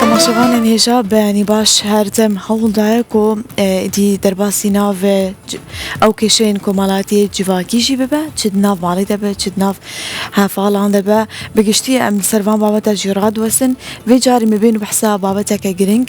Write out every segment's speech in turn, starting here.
تەماشەبانێن هێژا بەیانی باش هەردەم هەوڵدایە کۆ ئیدی دەرباسی ناڤێ ئەو کێشەیەن کۆمەڵاتیە جڤاکیژی ببە چد ناڤ ماڵی دەبێت چد ناڤ هەفاڵان دەبە بگشتی ئەم سەروان بابەتە ژێڕا دوەسن وێ جاری مبێن بەحسا بابەتەکە گرنگ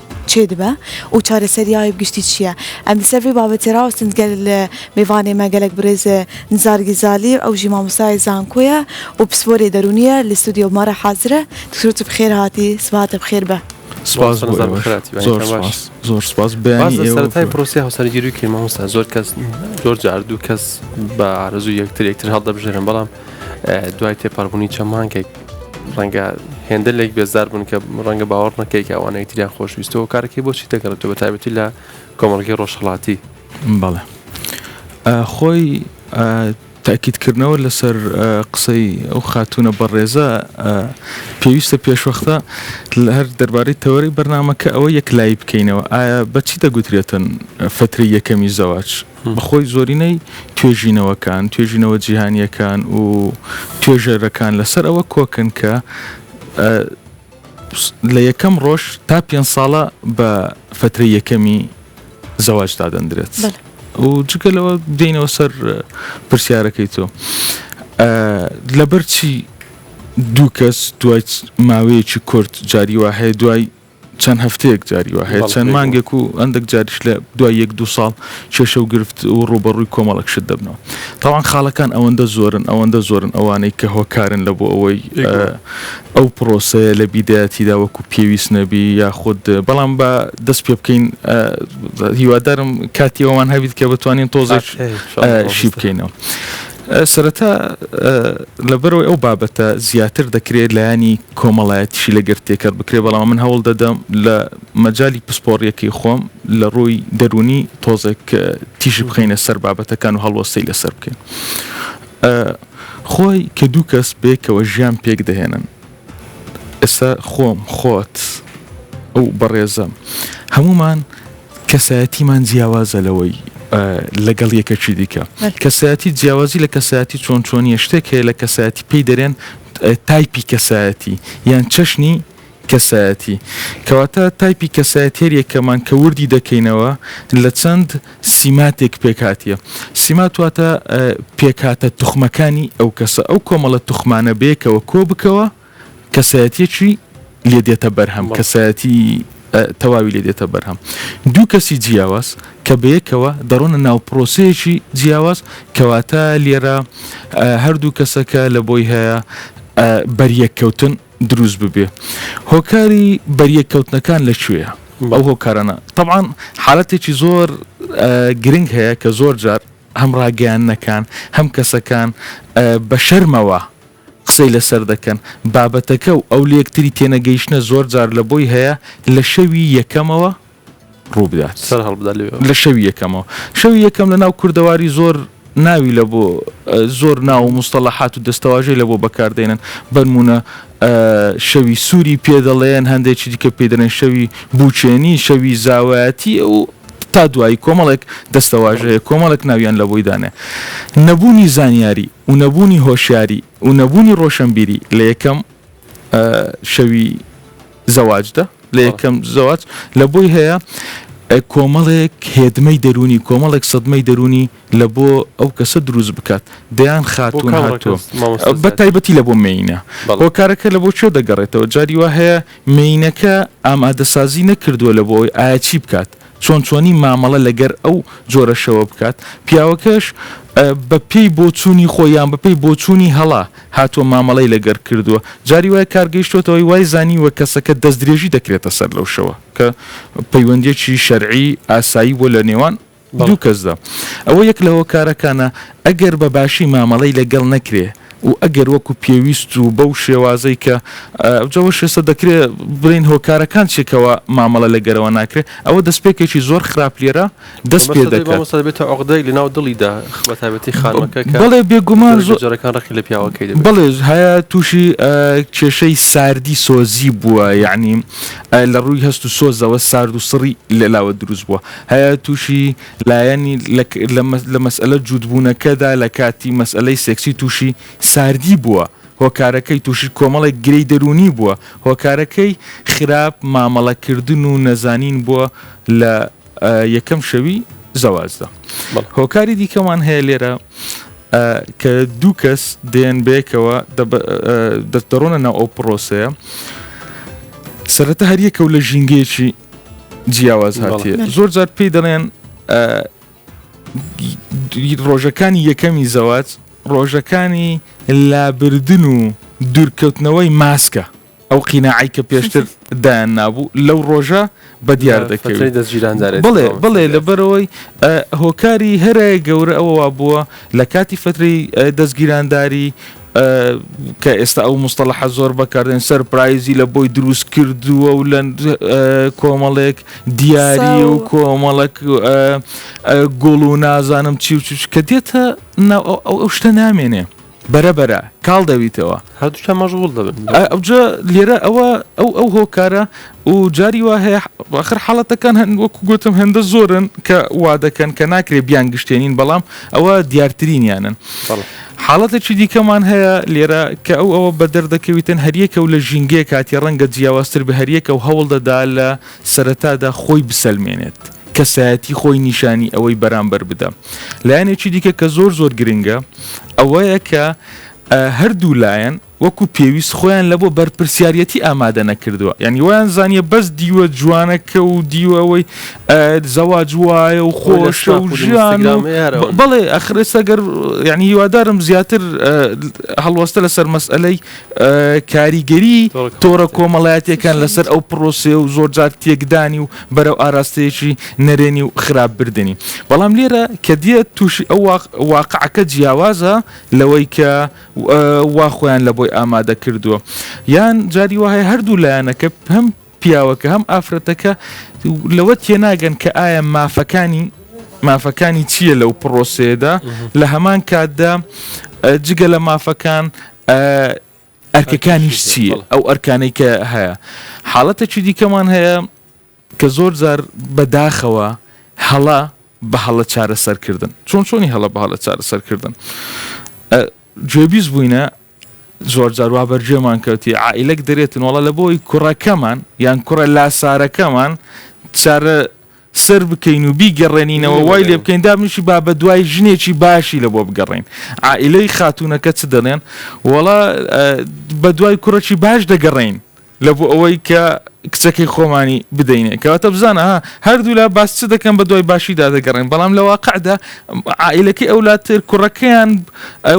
چێ دبا و چارەسەریاێ گشتی چیە؟ ئەندە سەر ڤی بابەتێ راوەستن گەل مێڤانێمە گەلەک برێز نزار گیزالی ئەو ژی مامۆستاێ زانکۆیە و پسپۆرێ دەرونیە لە ستۆدیۆ مارا حازرە دکتۆر تو بخێر هاتی سبهاتە بخێر بە. سپاس بۆ ئێوەش زۆر سپاس زۆر سپاس بەیانی ئێوە سەرەتای پرۆسی هاوسەرگیری و کەین مامۆستا زۆر کەس زۆر جار دوو کەس بە ئارەزوو یەکتر یەکتر هەڵدەبژێرن بەڵام دوای تێپەڕبوونی چەند مانگێک ڕەنگە هێندە لێک بێزار بوون کە ڕەنگە باوەڕ نەکەی کە ئەوانەی تریان خۆشویستەوە کارەکەی بۆچی دەگەڕێتەوە تابەتی لە کۆمەڵگەی ڕۆژهڵاتی بەڵێ خۆی تاکیدکردنەوە لەسەر قسەی ئەو خاتونە بەڕێزە پێویستە پێشوەختە لە هەر دەربارەی تەوەری بەرنمەکە ئەوە یەک لای بکەینەوە ئایا بەچی دەگوترێتن فتری یەکەمی زەواج بەخۆی زۆرینەی توێژینەوەکان، توێژینەوە جیهانییەکان و توێژەرەکان لەسەر ئەوە کۆکن کە لە یەکەم ڕۆژ تا پێنج ساڵە بە فترەی یەکەمی زەواج دادەندرێت و جگە لەوە دێنەوە سەر پرسیارەکەی تۆ لەبەرچی دوو کەس دوای ماوەیەکی کورت جاری وهەیە دوای چەند هەفتەیەک جاری وا هەیە چەند مانگێک و ئەندێک جاریش لە دوای یەک دوو ساڵ کێشە و گرفت و ڕوبەڕووی کۆمەڵک شت دەبنەوە تاوان خاڵەکان ئەوەندە زۆرن ئەوەندە زۆرن ئەوانەی کە هۆکارن لە بۆ ئەوەی ئەو پرۆسەیە لە بیدایەتیدا وەکو پێویست نەبی یاخود بەڵام بە دەست پێ بکەین هیوادارم کاتی ئەوان هەبیت کە بتوانین تۆزێک شی بکەینەوە سەرەتا لەبەرەوەی ئەو بابەتە زیاتر دەکرێت لایەنی کۆمەڵایەتیشی لەگەر تێکەر بکرێت بەڵام من هەوڵ دەدەم لە مەجای پسپۆڕیەکەی خۆم لە ڕووی دەروونی تۆزێک تیژی بخینە سەر بابەتەکان و هەڵوەستەی لەسەر بکەین خۆی کە دوو کەس بێکەوە ژیان پێک دەهێنن ئێستا خۆم خۆت ئەو بەڕێزە هەمومان کەسایەتیمان جیاوازە لەوەی لەگەڵ یەکەکی دیکە. کەسایەتی جیاوازی لە کەسایەتی چۆن چۆنیە شتێک هەیە لە کەسایەتی پێی دەرێن تایپی کەسایەتی یان چەشنی کەسایەتی کەواتە تایپی کەسایەت هێر یەکەمان کە وردی دەکەینەوە لە چەند سیماتێک پێکاتە سیماتواتە پێکاتە توخمەکانی ئەو کەسە ئەو کۆمەڵە توخمانە بێکەوە کۆ بکەوە کەسایەتیەکی لێ دێتە بەرهەم کەسایەتی تەواوی لێ دێتە بەرهەم دوو کەسی جیاواز کە بەیەکەوە دەڕۆنە ناو پرۆسەیەکی جیاواز کەواتە لێرە هەردوو کەسەکە لە بۆی هەیە بەریەککەوتن دروست ببێ هۆکاری بەریەککەوتنەکان لە کوێە ئەو هۆکارانە طبعاان حالەتێکی زۆر گرنگ هەیە کە زۆر جار هەم ڕاگەیان نەکان هەم کەسەکان بە شەرمەوە قسەی لەسەر دەکەن. بابەتەکە و ئەو لەیەکتری تێنەگەیشتنە زۆر جار لە بۆی هەیە لە شەوی یەکەمەوە ڕوو بدات. سەر هەڵبدا لەوێوە. لە شەوی یەکەمەوە. شەوی یەکەم لە ناو کوردەواری زۆر ناوی لە بۆ زۆر ناو و موستەڵەحات و دەستەواژەی لە بۆ بەکار دەینن. بەنموونە شەوی سووری پێ دەڵێن، هەندێکی دیکە پێی دەڵێن شەوی بووکێنی، شەوی زاوایەتی و. تا دوایی کۆمەڵێک دەستەواژە هەیە کۆمەڵێک ناویان لە بۆی دانێ نەبوونی زانیاری و نەبوونی هۆشیاری و نەبوونی ڕۆشنبیری لە یەکەم شەوی زەواجدا لە یەکەم زەواج لە بۆی هەیە کۆمەڵێک هێدمەی دەرونی کۆمەڵێک سەدمەی دەرونی لە بۆ ئەو کەسە دروست بکات دەیان خاتون هاتووە بە تایبەتی لە بۆ مینە هۆکارەکە لە بۆ کوێ دەگەڕێتەوە جاری وا هەیە مینەکە ئامادەسازی نەکردووە لە بۆ ئەوی ئایا چی بکات چۆن چۆنی مامەڵە لەگەر ئەو جۆرەشەوە بکات پیاوەکەش بە پێی بۆچوونی خۆ یان بەپی بۆچوونی هەڵا هاتووە مامەڵی لەگەر کردووە جاری وای کارگەیشتوتەوەی وای زانی وە کەسەکە دەست درێژی دەکرێتە سەر لەو شەوە کە پەیوەندیەکی شەرعی ئاسایی بۆ لە نێوان دوو کەسدا. ئەوە یەک لە هۆکارەکانە ئەگەر بە باشی مامەڵەی لە گەڵ نەکرێ و ئەگەر وەکو پێویست و بەو شێوازەی کە ئەوجا وەش ئێستا دەکرێ بڵێین هۆکارەکان چیە کەوا مامەڵە لە گەرەوە ناکرێ ئەوە دەستپێکێکی زۆر خراپ لێرە دەست پێ دەکات. مامۆستا دەبێتە عوقدەیەک لە ناو دڵیدا بە تایبەتی خانمەکە کە بەڵێ بێگومان زۆر جارەکان ڕقی لە پیاوەکەی دەبێت. بەڵێ هەیە تووشی کێشەی ساردی سۆزی بووە یەعنی لە ڕووی هەست و سۆزەوە سارد و سڕی لەلاوە دروست بووە. هەیە تووشی لایەنی لە مەسئەلە جووتبوونەکەدا لە کاتی مەسئەلەی سێکسی تووشی ساردی بووە، هۆکارەکەی تووشی کۆمەڵێک گرێی دەروونی بووە، هۆکارەکەی خراپ مامەڵەکردن و نەزانین بووە لە یەکەم شەوی زەواجدا. هۆکاری دیکەمان هەیە لێرە کە دوو کەس دێن بەیەکەوە دەڕۆنە ناو ئەو پڕۆسەیە سەرەتا هەریەکە و لە ژینگەیەکی جیاواز هاتیە زۆر جار پێی دەڵێن ڕۆژەکانی یەکەمی زەوات ڕۆژەکانی لابردن و دوورکەوتنەوەی ماسکە ئەو قینەعی کە پێشتر دایان نابوو لەو ڕۆژە بە دیار دەکەوێت بڵێ بڵێ لەبەرەوەی هۆکاری هەرە گەورە ئەوە بووە لە کاتی فتری دەستگیرانداری کە ئێستا ئەو مستەلەحە زۆر بەکاردێن سەرپرایزی لە بۆی دروست کردووە و لە کۆمەڵێک دیاری و کۆمەڵک گوڵ و نازانم چی و چش کە دێتە ئەو شتە نامێنێ بەرەبەرە کاڵ دەویتەوە هەردووشە مەژغول دەبن ئەوجە لێرە ئەوە ئەو ئەو هۆکارە و جاری وا هەیە ئاخر حاڵەتەکان هەن وەکو گوتم هێندە زۆرن کە وا دەکەن کە ناکرێ بیانگشتێنین بەڵام ئەوە دیارترینیانن بەڵێ حاڵەتێکی دیکەمان هەیە لێرە کە ئەو ئەوە بە دەردەکەویتن هەریەکە و لە ژینگەیە کاتی ڕەنگە جیاوازتر بە هەریەکە و هەوڵ دەدا لە سەرەتادا خۆی بسەلمێنێت کەسایەتی خۆی نیشانی ئەوەی بەرامبەر بدە لایەنێکی دیکە کە زۆر زۆر گرنگە ئەوەیە کە هەردوو لایەن وەکو پێویست خۆیان لە بۆ بەرپرسیاریەتی ئامادە نەکردوە یانی وایان زانیە بەس دیوە جوانەکە و دیوە ئەوەی زەواج وایە و خۆشە و ژیان بەڵێ ئەخرێسەگەر یعنی هیوادارم زیاتر هەڵوەستە لەسەر مەسئلەی کاریگەری تۆرە کۆمەڵایەتەکان لەسەر ئەو پرۆسێ و زۆر جار تێکدانی و بەرەو ئاراستەیەکی نەرێنی و خراپ بردننی بەڵام لێرە کە دیێت تووشی ئەو واقعەکە جیاوازە لەوەی کە وا خۆیان لە بۆی ئامادە کردووە یان جاری وهەیە هەردوو لایەنەکە هەم پیاوەکە هەم ئافرەتەکە لەوە تێناگەن کە ئایا مافەکانی مافەکانی چییە لەو پرۆسێدا لە هەمان کاتدا جگە لە مافەکان ئەرکەکانیش چییە ئەو ئەرکانەی کە هەیە حاڵەتەکی دیکەمان هەیە کە زۆر جار بە داخەوە هەڵە بە هەڵە چارەسەر کردن چۆن چۆنی هەڵە بە هەڵە چارەسەر کردن گوێبیست بووینە زۆر جار وا بەرجێمان کەوتی عیلەک دەرێتن وڵە لە بۆی کوڕەکەمان یان کوڕە لاسارەکەمان چارە سەر بکەین و بیگەڕێنینەوە وای لێ بکەین دابنیشی با بە دوای ژنێکی باشی لە بۆ بگەڕین ئائیلەی خاتونەکە چ دەڵێن وەڵا بە دوای کوڕەکی باش دەگەڕین لە بۆ ئەوەی کە کچەکەی خۆمانی بدەینێ کەواتە بزانە ها هەردوولا باس چ دەکەن بە دوای باشیدا دەگەڕێن بەڵام لە واقعدا عائلەکەی ئەولاتر کوڕەکەیان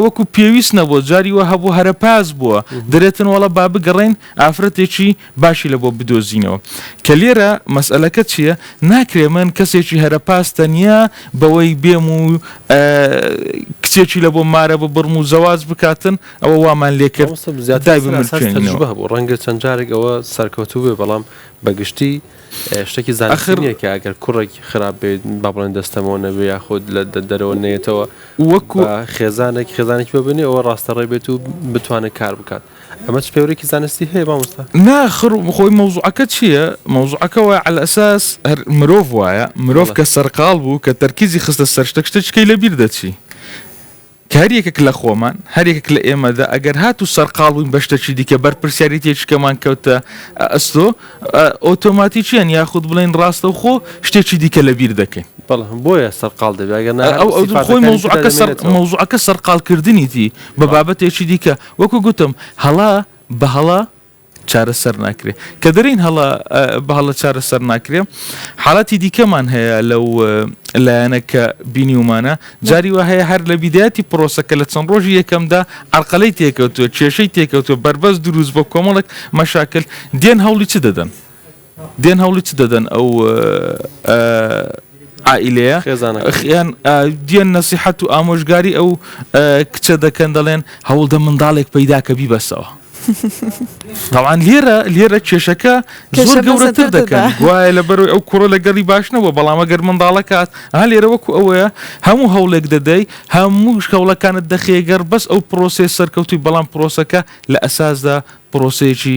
وەکو پێویست نەبوو جاری وە هەبوو هەرە پاس بووە درێتن وڵە با بگەڕین ئافرەتێکی باشی لە بۆ بدۆزینەوە کە لێرە مەسئلەکە چییە ناکرێ من کەسێکی هەرە پاس تەنیا بەوەی بێم و کچێکی لە بۆ مارە ببڕم و زەواز بکاتن ئەوە وامان لێ کرد مامۆستا زیاتر دای لەسەر ئاساس بمرکێنینەوە تەجروبە هەبوو ڕەنگە چەند جارێک ئەوە سەرکەوتوو بێ بەڵام بە گشتی ئێ، شتێکی زانستی ئەخر نییە کە ئەگەر کوڕێک خراپ بێت با بڵێن دەستەمەوە نەبێ یاخود لە دە- دەرەوە نەیەتەوە وەکو بە خێزانێک خێزانێکی بە بنێ ئەوە ڕاستە ڕێ بێت و بتوانێت کار بکات ئەمە چ پێورێکی زانستی هەیە مامۆستا ناخر خۆی مەوزوعەکە چییە؟ مەوزوعەکە وایە عەلە ئەساس هەر مرۆڤ وایە مرۆڤ بەڵێ. کە سەرقاڵ بوو کە تەرکیزی خستە سەر شتەک شتەچکەی لەبیر دەچی کە هەر یەکێک لە خۆمان، هەر یەکێک لە ئێمەدا، ئەگەر هاتوو سەرقاڵ بووین بە شتەکی دیکە، بەرپرسیاریتیەکی کەمان کەوتە ئەستۆ، ئۆتۆماتیکییەن یاخود بڵێین ڕاستەوخۆ شتێکی دیکە لە بیر دەکەین. بەڵێ بۆیە سەرقاڵ دەبێت، ئەگەر نا هەر سیفاتەکانی تردا دەمێنێتەوە. مەوزوعەکە سەرقاڵکردنیتی بە بابەتێکی دیکە. وەکو گوتم هەڵە بە هەڵە چارەسەر ناکرێ کە دەرین هەڵە بە هەڵە چارەسەر ناکرێ حاڵاتی دیکەمان هەیە لەو لایەنە کە بینیومانە جاری وە هەیە هەر لە بیداەتی پرۆسەکە لە چەند ڕۆژی یەکەمدا ئەرقەلەی تێکەوتوە کێشەی تێکەوتوە بەربەست دروست بۆ کۆمەڵک مەشاکل دێن هەوڵی چ دەدەن دێن هەوڵی چ دەدەن ئەو عائلەیە خێزانەکەیان دیێن نەسیحەت و ئامۆژگاری ئەو کچە دەکەن دەڵێن هەوڵدە منداڵێک پەیدا کە بیبەسەوە تاوان لێرە لێرە کێشەکە زۆر گەورەتر دەکەن گوایە لە بەرەوەی ئەو کوڕە لە گەڵی باش نەبووە بەڵام ئەگەر منداڵەکات ها لێرە وەکو ئەوەیە هەموو هەوڵێک دەدەی هەموو شکەوڵەکانت دەخێگەر بەس ئەو پرۆسێ سەرکەوتوی بەڵام پرۆسەکە لە ئەساسدا پرۆسێکی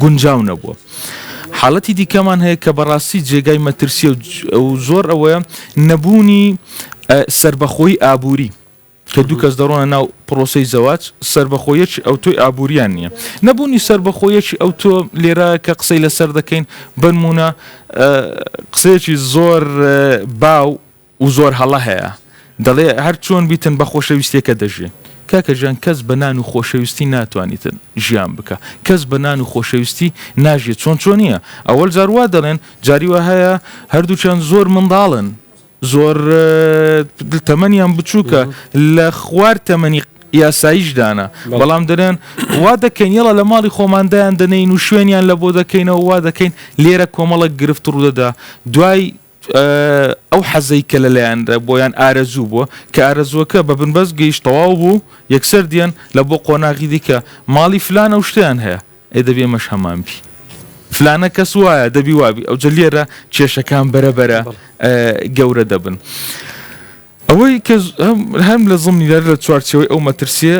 گونجاو نەبووە. حاڵەتی دیکەمان هەیە کە بەڕاستی جێگای مەترسییە و زۆر ئەوەیە نەبوونی سەربەخۆیی ئابووری. کە دوو کەس دەڕۆنە ناو پرۆسەی زەواج سەربەخۆیەکی ئەوتۆی ئابووریان نییە نەبوونی سەربەخۆیەکی ئەوتۆ لێرە کە قسەی لەسەر دەکەین بەنمونە قسەیەکی زۆر باو و زۆر هەڵە هەیە دەڵێ هەر چۆن بیتن بە خۆشەویستیەکە دەژین کاکە جان کەس بە نان و خۆشەویستی ناتوانیتن ژیان بکە کەس بە نان و خۆشەویستی ناژیێ چۆن چۆنیە ئەوەل جار وا دەڵێن جاری وا هەیە هەردووچان زۆر منداڵن زۆر تەمەنیان بچووکە لە خوار تەمەنی یاساییش دانا بەڵام دەرێن وا دەکەین یڵە لە ماڵی خۆماندایان دەنین و شوێنیان لە بۆ دەکەینەوە وا دەکەین لێرە کۆمەڵک گرفت ڕوودەدا دوای ئەو حەزەی کە لە لایان رە بۆ یان ئارەزوو بووە، کە ئارەزووەکە بە بنبەست گەیشت تەواو بوو، یەکسەر دێن لە بۆ قۆناغی دیکە، ماڵی فلانە و شتیان هەیە، ئەی دەبی ئەمەش هەمان بی. فلانە کەس وایە، دەبی وا بی. ئەوجە لێرە کێشەکان بەرە بەرە بەڵێ. گەورە دەبن. ئەوەی کە هەم لە زمنی لە چوارچێوەی ئەو مەترسییە،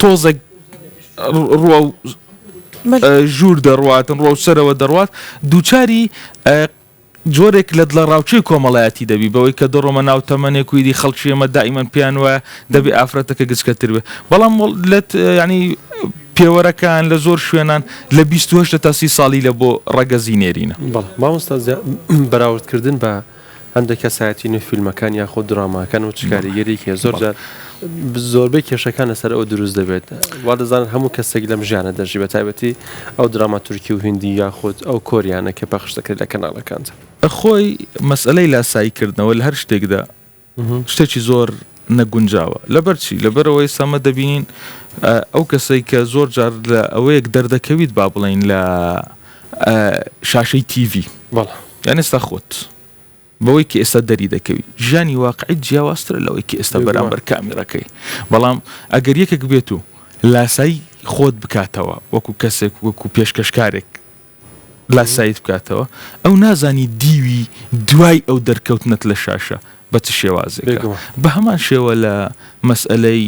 تۆزێک ڕوە و ژوور دەڕواتن ڕوە و سەرەوە دەڕوات دووچاری جۆرێک لە دڵە ڕاوچی کۆمەڵایەتی دەبی بەوەی کە دەڕۆمە ناو تەمەنێک ویدی خەڵکی ئمە دائیمەن پیان وایە دەبێ ئافرەتەکە گچکەتر بێ بەڵام لەت ینی پێوەرەکان لە زۆر شوێنان لە 28 تا سی ساڵی لە بۆ ڕەگەزی نێرینە مامۆستا بەراوردکردن بە هەندێک کەسایەتی نوێ فیلمەکان یاخود دراماکەن و چ کاریگەریەکی هەیە زۆر جار زۆربەی کێشەکان لەسەر ئەوە دروست دەبێت وا دەزانن هەموو کەسێک لەم ژیانە دەژی بە تایبەتی ئەو دراما تورکی و هندی یاخود ئەو کۆریانە کە پەخش دەکرێت لە کەناڵەکاندا. خۆی مەسەلەی لاسایی کردنەوە لە هەر شتێکدا شتێکی زۆر نەگونجاوە لەبەر چی؟ لەبەر ئەوەی ئێستا ئەمە دەبینین ئەو کەسەی کە زۆر جار لە ئەوەیەک دەردەکەویت با بڵێین لە شاشەی تیڤی بەڵێ یان ئێستا خۆت بەوەی کە ئێستا دەری دەکەوی ژیانی واقعی جیاوازترە لەوەی کە ئێستا بێگومان. بەرامبەر کامیرەکەی بەڵام ئەگەر یەکێک بێت و لاسایی خۆت بکاتەوە وەکو کەسێک وەکو پێشکەشکارێک لاسایت بکاتەوە ئەو نازانی دیوی دوای ئەو دەرکەوتنەت لە شاشە بە چ شێوازێکە بە هەمان شێوە لە مەسئلەی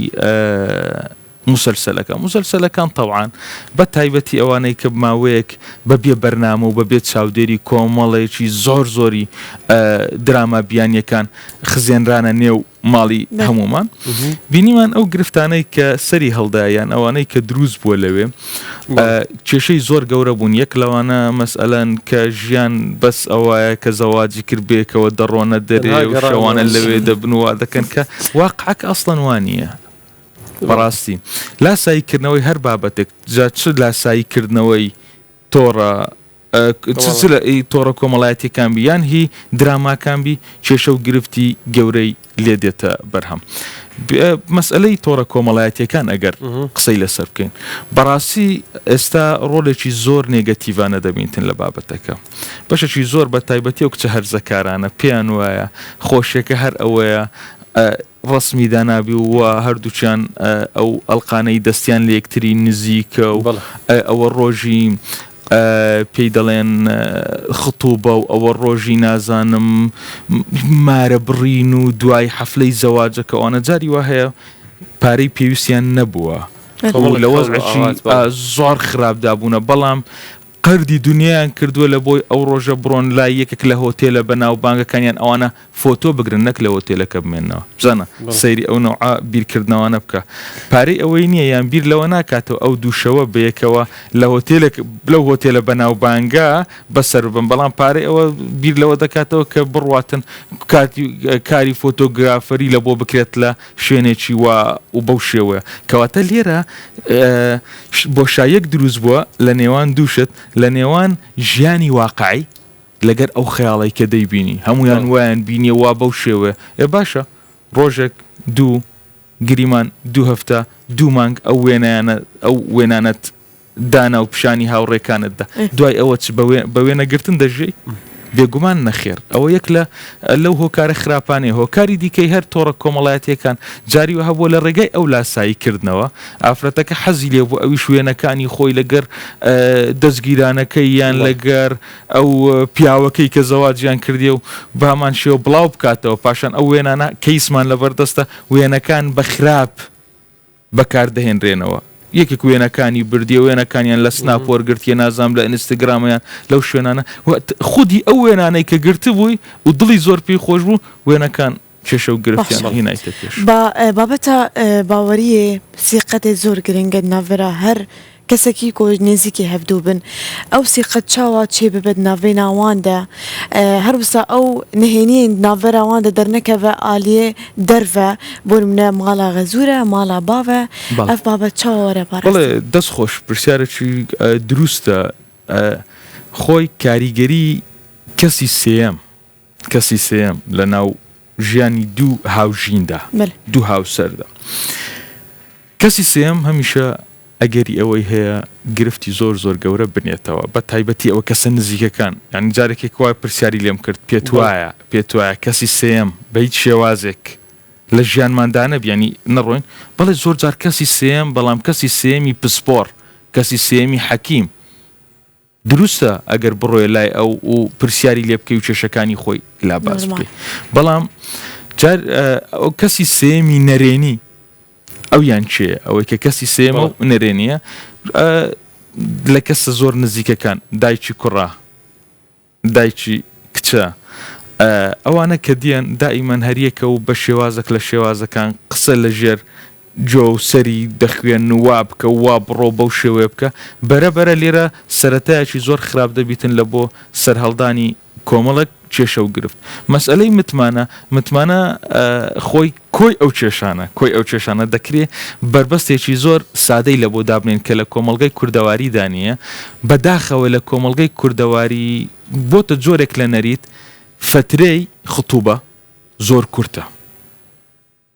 مسلسلەکە مسلسلەکان تەوان بە تایبەتی ئەوانەی کە ماوەیەک بە بێ بەرنامە و بە بێت چاودێری کۆمەڵێکی زۆر زۆری دراما بیانیەکان خزێنرانە نێو ماڵی هەمومان بینیمان ئەو گرفتانەی کە سەری هەڵدایان ئەوانەی کە دروست بووە لەوێ کێشەی زۆر گەورە بوون یەک لەوانە مەسئلەن کە ژیان بەس ئەوەیە کە زەواجی کرد بێکەوە دەڕۆنە دەرێ و شەوانە لەوێ دەبنووا دەکەن کە واقعک ئەسڵەنوانە بەڕاستی لاساییکردنەوەی هەر بابەتێک جا چ لاساییکردنەوەی تۆڕە کۆمەڵایەتییەکان بی، تۆڕە کۆمەڵایەتییەکان بی یان هی دراماکان بی، کێشە و گرفتی گەورەی لێ دێتە بەرهەم. مەسەلەی تۆڕە کۆمەڵایەتییەکان ئەگەر قسەی لەسەر بکەین، بەڕاستی ئێستا ڕۆلێکی زۆر نێگەتیڤانە دەبینن لە بابەتەکە. بەشێکی زۆر بەتایبەتی ئەو کچە هەرزەکارانە پێیان وایە خۆشییەکە هەر ئەوەیە، ڕەسمی دانابی و وا هەردووکیان ئەو ئەڵقانەی دەستیان لە یەکتری نزیکە و بەڵێ ئەوە ڕۆژی پێی دەڵێن خطوبە و ئەوە ڕۆژی نازانم مارە بڕین و دوای حەفلەی زەواجەکە ئەوانە جاری وا هەیە پارەی پێویستیان نەبووە و کۆمەڵێک لە هەوڵ و وەزعێکی ئاوات بەڵێ آه، زۆر خراپدا بوونە بەڵام قەردی دونیایان کردووە لە بۆی ئەو ڕۆژە بڕۆن لای یەکێک لە هۆتێلە بە ناو بانگەکان یان ئەوانە فۆتۆ بگرن نەک لە هۆتێلەکە بمێنەوە بزانە سەیری ئەو نەوعە بیر کردنەوانە بکە پارەی ئەوەی نییە یان بیر لەوە ناکاتەوە ئەو دوو شەوە بەیەکەوە لە هۆتێلێک لەو هۆتێلە بە ناو بانگە بە سەر ببەن بەڵام پارەی ئەوە بیر لەوە دەکاتەوە کە بڕواتن کارتی کاری فۆتۆگرافەری لە بۆ بکرێت لە شوێنێکی وا و بەو شێوەیە. کەواتە لێرە بۆشاییەک دروست بووە لە نێوان دوو شت، لە نێوان ژیانی واقعی لەگەر ئەو خەیاڵەی کە دەیبینی، هەموویان وایان بینیە وا بەو شێوەیە، ئێ باشە ڕۆژێک، دوو، گریمان، دوو هەفتە، دوو مانگ ئەو وێنایانە ئەو وێنانەت دانا و پیشانی هاوڕێکانت دا دوای ئەوە چ بە وێنە گرتن دەژێی بێگومان نەخێر ئەوە یەک لە لەو هۆکارە خراپانەیە هۆکاری دیکەی هەر تۆڕە کۆمەڵایەتیەکان جاریوە هەبووە لە ڕێگای ئەو لاسایی کردنەوە ئافرەتەکە حەزی لێ بوو ئەوی شوێنەکانی خۆی لەگەر دەستگیرانەکەی یان لەگەر ئەو پیاوەکەی کە زەواجیان کردی و بامان شێوە بڵاو بکاتەوە پاشان ئەو وێنانە کەیسمان لەبەردەستە وێنەکان بە خراپ بەکاردەهێنرێنەوە یەکێک وێنەکانی بردیە وێنەکانیان لە سناپ وەرگرتیە نازانم لە ئینستاگرامە یان لەو شوێنانە و خودی ئەو وێنانەی کە گرتبووی و دڵی زۆر پێی خۆش بوو وێنەکان کێشە و گرفتیان باشە هینایتە پێش. با بابەتە باوەریێ سیقەتێ زۆر گرنگە ناڤرا هەر کەسەکی کۆ نێزیکی هەڤدوو بن ئەو سی قەد چاوا چێ ببەد ناڤێنا وان دە هەر وسا ئەو نهێنیێن ناڤەرا وان دە دەرنەکەڤە ئالیێ دەرڤە بۆ نمونە ماڵا غەزوورە ماڵا باڤە بەڵێ ئەڤ بابەت چاوا وەرە بەڵێ پاراستن. دەست خۆش پرسیارەکی دروستە خۆی کاریگەری کەسی سێیەم کەسی سێیەم لە ناو ژیانی دوو هاوژیندا دوو هاوسەردا کەسی سێم هەمیشە ئەگەری ئەوەی هەیە گرفتی زۆر زۆر گەورە بنێتەوە بە تایبەتی ئەوە کەسە نزیکەکان یان جارێکێک وای پرسیاری لێم کرد پێت وایە پێت وایە کەسی سێم بە هیچ شێوازێک لە ژیانماندانە بیانی نەڕۆین بەڵێ زۆر جار کەسی سێم بەڵام کەسی سێمی پسپۆڕ کەسی سێمی حەکیم دروستە ئەگەر بڕۆیە لای ئەو و پرسیاری لێ بکەی و کێشەکانی خۆی لا باس نۆرمال بکەی بەڵام جار ئەو کەسی سێیەمی نەرێنی ئەویان کێیە ئەوەی کە کەسی سێمە بەڵێ و نەرێنیە ئە، لە کەسە زۆر نزیکەکان دایکی کوڕە دایکی کچە ئە، ئەوانە کە دییەن دائیمەن هەریەکە و بە شێوازەک لە شێوازەکان قسە لە ژێر جۆ و سەری دەخوێن و وا بکە و وا بڕۆ و بەو شێوەیە بکە، بەرە بەرە لێرە سەرەتایەکی زۆر خراپ دەبیتن لە بۆ سەرهەڵدانی کۆمەڵێک کێشە و گرفت. مەسئەلەی متمانە، متمانە خۆی کۆی ئەو کێشانە، کۆی ئەو کێشانە، دەکرێ بەربەستێکی زۆر سادەی لە بۆ دابنێین کە لە کۆمەڵگەی کوردەواریدا نییە، بە داخەوە لە کۆمەڵگەی کوردەواری بۆتە جۆرێک لە نەریت، فەترەی، خطوبە، زۆر کورتە.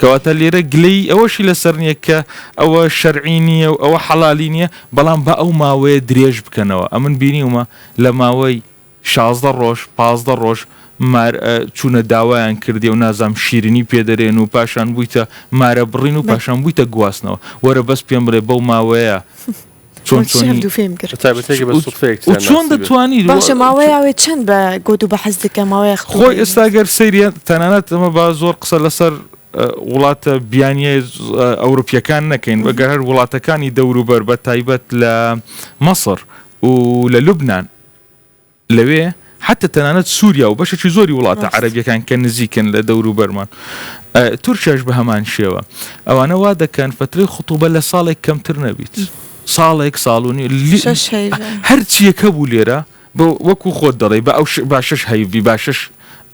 کەواتە لێرە گلەیی ئەوەشی لەسەر نییە کە ئەوە شەرعی نییە و ئەوە حەڵالی نییە، بەڵام با ئەو ماوەیە درێژ بکەنەوە، ئەمن بینیومە لە ماوەی شازدە ڕۆژ، پازدە ڕۆژ مار چوونە داوایان کردیە و نازام شیرنی پێ دەرێن و پاشان بوویتە مارە بڕین و پاشان بوویتە گواستنەوە، وەرە بەس پێم بڵێ بەو ماوەیە چۆن چۆن دەتوانی باشە ماوەیاوێ چەند بە گۆت و بە حەز دەکە ماوەیە خۆی ئێستا گەر سریە تەنانەت ئەمە با زۆر قسە لەسەر وڵاتە بیانیە ئەوروپیەکان نەکەین بەگەر هەر وڵاتەکانی دەوروبەر بە تایبەت لە مەسر و لە لوبناان لەوێ حەتە تەنانەت سووریا و بەشێکی زۆری وڵاتە ڕاست عەرەبییەکان کە نزیکن لە دەوروبەرمان ئە، تورکیاش بە هەمان شێوە ئەوانە وا دەکەن فەترەی خوتوبە لە ساڵێک کەمتر نەبیت ساڵێک ساڵ و نیو لی شەش هەیڤ ە. هەر چییەک هەبوو لێرە بە وەکوو خۆت دەڵێی بە ئەو ش با شەش هەیڤ بی با شەش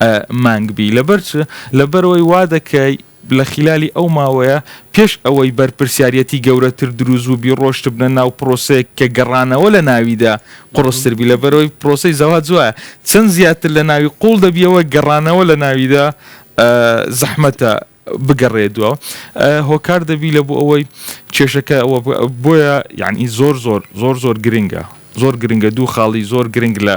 ئە مانگ بی لەبەر چ لەبەر ئەوەی وا دەکەی لە خیلالی ئەو ماوەیە پێش ئەوەی بەرپرسیاریەتی گەورەتر دروستبووبی ڕۆشتبنە ناو پرۆسەیەک کە گەڕانەوە لە ناویدا قوڕستر بی لەبەرئەوەی پرۆسەی زەواج وایە چەند زیاتر لە ناوی قوڵ دەبیەوە گەڕانەوە لە ناویدا زەحمەتە بگەڕێ دووا هۆکار دەبی لە بۆ ئەوەی کێشەکە بۆیە یعنی زۆر زۆر زۆر زۆر گرنگە زۆر گرنگە دوو خاڵی زۆر گرنگ لە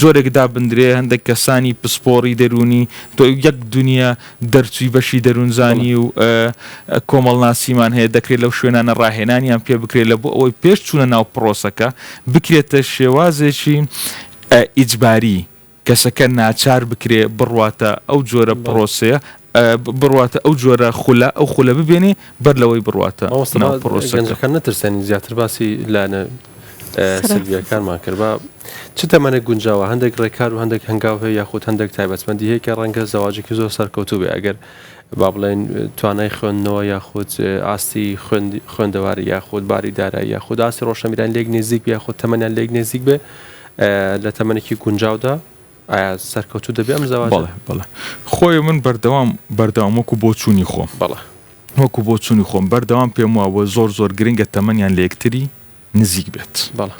جۆرێک دابندرێ هەندێک کەسانی پسپۆڕی دەروونی تۆ یەک دونیا دەرچووی بەشی دەروونزانی و کۆمەڵناسیمان هەیە دەکرێت لەو شوێنانە ڕاهێنانیان پێ بکرێت لە بۆ ئەوەی پێش چوونە ناو پڕۆسەکە بکرێتە شێوازێکی ئیجباری کەسەکە ناچار بکرێ بڕواتە ئەو جۆرە پڕۆسەیە بڕواتە ئەو جۆرە خولە، ئەو خولە ببێنێ بەر لەوەی بڕواتە ناو پڕۆسەکە. مامۆستا گەنجەکان نەترسێنین زیاتر باسی لایەنە سلبیەکانمان کرد با چ تەمەنێک گونجاوە هەندێک ڕێکار و هەندێک هەنگاو هەیە یاخود هەندێک تایبەتمەندی هەیە کە ڕەنگە زەواجێکی زۆر سەرکەوتوو بێ ئەگەر با بڵێن توانای خوێندنەوە یاخود ئاستی خوێندەواری یاخود باری دارایی یاخود ئاستی ڕۆشنبیران لێک نێزیک بێ یاخود تەمەنیان لێک نێزیک بێ لە تەمەنێکی گونجاودا ئایا سەرکەوتوو دەبێ ئەم زەواجە؟ بەڵێ بەڵێ خۆی من بەردەوام بەردەوام وەکو بۆ چوونی خۆم بەڵێ وەکو بۆ چوونی خۆم بەردەوام پێم وابووە زۆر زۆر گرنگە تەمەنیان لە یەکتری نزیک بێت بەڵێ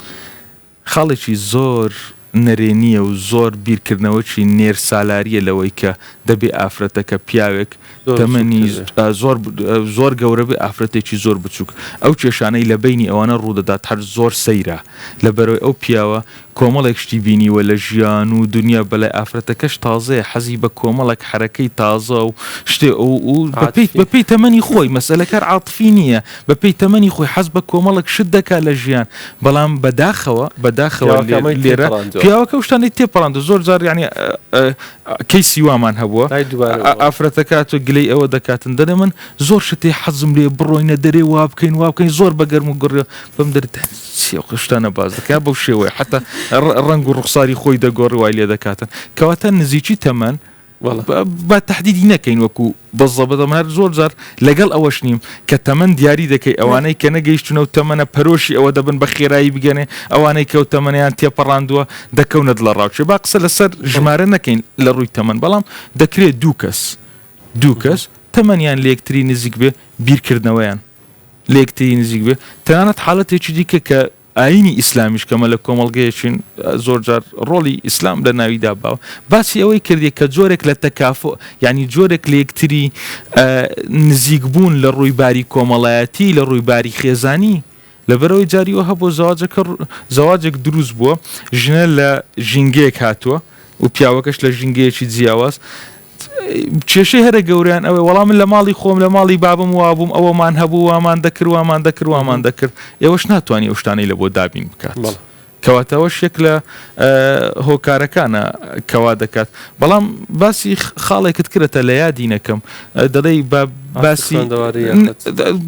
خاڵێکی زۆر نەرێنیە و زۆر بیرکردنەوەکی نێر سالاریە لەوەی کە دەبێ ئافرەتەکە پیاوێک تەمەنی زۆر زۆر گەورە بێ ئافرەتێکی زۆر بچووک ئەو کێشانەی لە بینی ئەوانە ڕوودەدات هەر زۆر سەیرە لە بەرەوەی ئەو پیاوە کۆمەڵێک شتی بینیوە لە ژیان و دنیا بەلای ئافرەتەکەش تازەیە حەزی بە کۆمەڵێک حرەکەی تازە و شتێ ئەو و بەپیت بەپی تەمەنی خۆی مەسلەکەر عاتفی نییە بەپی تەمەنی خۆی حەز بە کۆمەڵک شت دەکات لە ژیان بەڵام بەداخەوە بەداخەوە لێرە پیاوەکە شتانی تێپەڕاند زۆر زار ینی کەیسی وامان هەبووە ئای دوبارە ئا ئەوە. ئافرەتەکە ئەتوێ گلەی ئەوە دەکاتن دەلێ من زۆر شت هەیە حەزم لێیە بڕۆینە دەرێ وا بکەین وا بکەین زۆر بە گەرم و گوڕیەوە بەم دەرێ دە چی ئەو شتانە باس دەکا بەو شێوەیە حەتا ڕ ڕەنگ و ڕوخساری خۆی دەگۆڕی وای لێ دەکاتن کەواتە نزیکی تەمەن وەڵا. با با تەحدیدی نەکەین وەکوو بزەبەدەم هەر زۆر جار لەگەڵ ئەوەش نیم کە تەمەن دیاری دەکەی ئەوانەی کە نەگەیشتونە و تەمەنە پەرۆشی ئەوە دەبن بە خێرایی بگەنێ ئەوانەی کەو تەمەنیان تێپەڕاندووە دەکەونە دڵە ڕاوچێ با قسە لەسەر ژمارە نەکەین لە ڕووی تەمەن بەڵام دەکرێت دوو کەس دوو کەس تەمەنیان لەکتری نزیک بێ بیرکردنەوەیان لەکتری نزیک بێ تەنانەت حاڵەتێکی دیکە کە ئایینی ئیسلامیش کە مەلە کۆمەڵگەیەکین زۆر جار ڕۆڵی ئیسلام لە ناویدا باوە باسی ئەوەی کردی کە جۆرێک لە تەکافۆ یعنی جۆرێک لە یەکتری نزیک بوون لە ڕووی باری کۆمەڵایەتی لە ڕووی باری خێزانی لەبەرەوەی جاریەوە هەبوو زەواجەکە زەواجێک دروست بووە ژنە لە ژینگەیەک هاتووە و پیاوەکەش لە ژینگەیەکی جیاواز کێشەی هەرە گەوریان ئەوەی وەڵام من لە ماڵی خۆم لە ماڵی بابم وابووم ئەوەمان هەبوو وامان دەکرد وامان دەکرد وامان دەکرد ئێوەش ناتوانانی ئەو شتانەی لە بۆ دابین بکات. کەواتەوەش یەک لە هۆکارەکانە کەوا دەکات بەڵام باسی خاڵێکت کرێتە لە یادی نەکەم دەڵێ بە باسی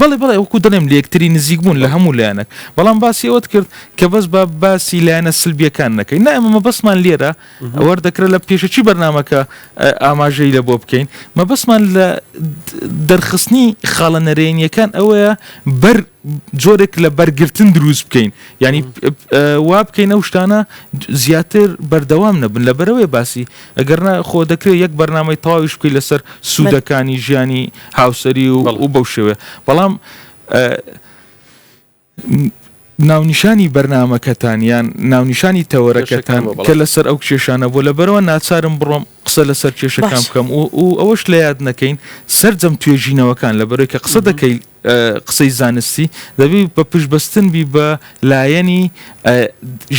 بڵێ بڵێ وەکو دەڵێم لە یەکتری نزیک بوون لە هەموو لایەنێک بەڵام باسی ئەوەت کرد کە بەس با باسی لایەنە سلبیەکان نەکەین نا ئێمە مەبەستمان لێرە ئەوەر دەکرێت لە پێشەکی بەرنمەکە ئاماژەی لە بۆ بکەین مەبەستمان لە دەرخستنی خاڵە نەرێنیەکان ئەوەیە بەر جۆرێک لە بەرگرتن دروست بکەین ینی وا بکەین ئەو شتانە زیاتر بەردەوام نەبن لە بەرەوەی باسی ئەگەرنا خۆ دەکرێت یەک بەرنمەی تاویش بکەیت لەسەر سوودەکانی ژیانی هاوسری و بەو شێوێ بەڵام ناونیشانی بەرنامەکەتان یان ناونیشانی تەوەرەکەتان کە لەسەر ئەو کێشانە بوو لەبەرەوە ناچارم بڕۆم قسە لەسەر کێشەکان بکەم و ئەوەش لە یاد نەکەین سرجەم توێژینەوەکان لە بەرەوەی کە قسە دەکەی قسەی زانستی دەبی بە پشبستن بی بە لایەنی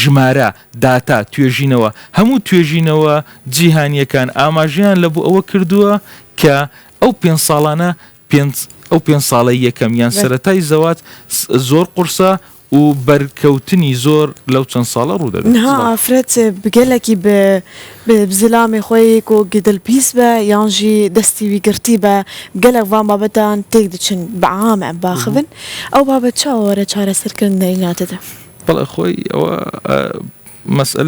ژمارە داتا توێژینەوە هەموو توێژینەوە جیهانیەکان ئاماژیان لە بوو ئەوە کردووە کە ئەو پێ ساڵانە پێنج، ئەو پێنج ساڵەی یەکەم یان سەرەتای زەواج زۆر قورسە و بەرکەوتنی زۆر لەو چەند ساڵە ڕوو دەدات. نها ئافرەت گەلەکی بە زلامێ خوەی کو گدل پیس بە یان ژی دەستی وی گڕتی بە، گەلەک ڤان بابەتان تێک دچن بە عام ئەم باخ بن، ئەو بابەت چاوەوەرە چارەسەرکردن دەیناتە دە؟ بەڵێ خوەی ئەوە مەسئەلەی.